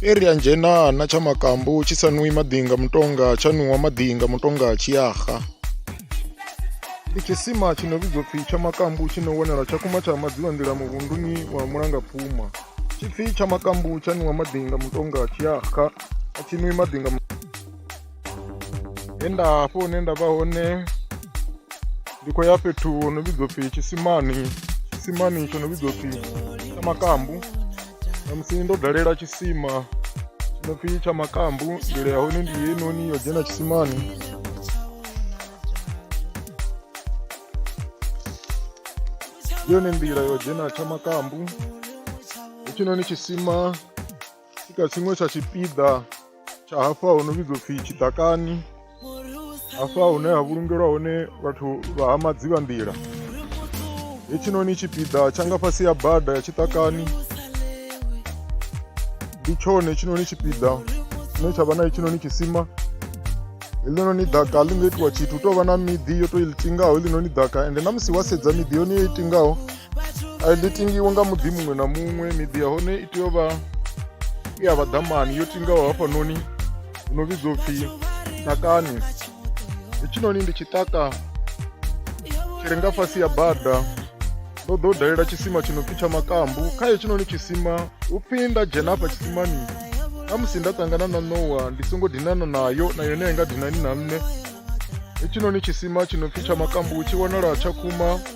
iri ya nzhenana tsha makambu tshi sa nwi maḓinga mutonga tsha nwiwa maḓinga mutonga tshiyaha ndi tshisima tshi no vhidzwa pfhi tsha makambu tshi no wanala tsha kuma tsha madziwa nḓila muvhunduni wa mulangapfuma tshipfi tsha makambu tsha nwiwa maḓinga mutonga tshiyaha a tshi nwi maḓinga he nda hafho hune nda vha hone ndi khou ya fhethu ho no vhidzwa pfhi tshisimani tshisimani tsho no vhidzwa pfhi tsha makambu namusi ndo dalela tshisima tsho no pfhi tsha makambu ndila ya hone ndi yenoni yo dzhena tshisimani yone nḓila yo dzhena tsha makambu hetshinoni tshisima i kha tshiṅwe tsha tshipiḓa tsha hafha ho no vhidzwa pfhi tshiḓakani hafha hune ha vhulungelwa hone vhathu vha ha madziba nḓila hetshinoni tshipiḓa tsha nga fhasi ya bada ya tshiṱakani ndi tshone tshinoni tshipiḓa tshine tsha vha na hetshinoni tshisima heḽinoni ḓaka ḽi nga itiwa tshithu u tou vha na miḓi yo tou i ḽitingaho heḽinoni ḓaka ende na musi wa sedza miḓi yone yo itingaho a ḽi tingiwe nga muḓi muṅwe na muṅwe miḓi ya hone i tea u vha i ya vhaḓamani yo tingaho hafhanoni hu no vhidzwa upfhi takani hetshinoni ndi tshiṱaka tshi re nga fhasi ya bada ndo ḓo dalela tshisima tshi no pfhi tsha makambu kha hetshinoni tshisima hu pfhi nda dzhena hafha tshisimani na musi nda ṱangana na nowa ndi songo dinana nayo na yone a i nga dinani na nṋe hetshinoni tshisima tshi no pfhi tsha makambu tshi wanala tsha khuma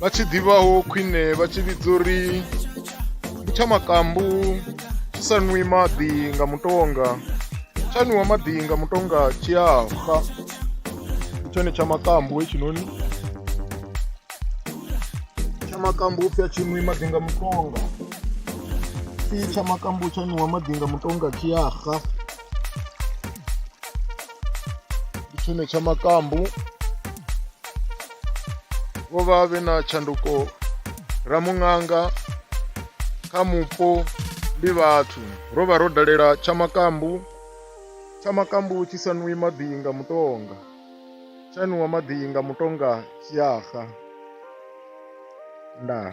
vha tshi ḓivhaho khwine vha tshi vhidza uri ndi tsha makambu tshi sa nwi maḓi nga mutonga tsha nwiwa maḓi nga mutonga tshi a fa ndi tshone tsha makambu hetshinoni tsha makambu upfhi a tshi nwi maḓi nga mutonga si tsha makambu tsha nwiwa maḓi nga mutonga tshi a xa ndi tshone tsha makambu vho vha vhe na tshanduko ramuṅanga kha mupo ndi vhathu ro vha ro dalela tsha makambu tsha makambu tshi sa nwi maḓi nga mutonga tsha nwiwa maḓi nga mutonga tshiyaha ndaa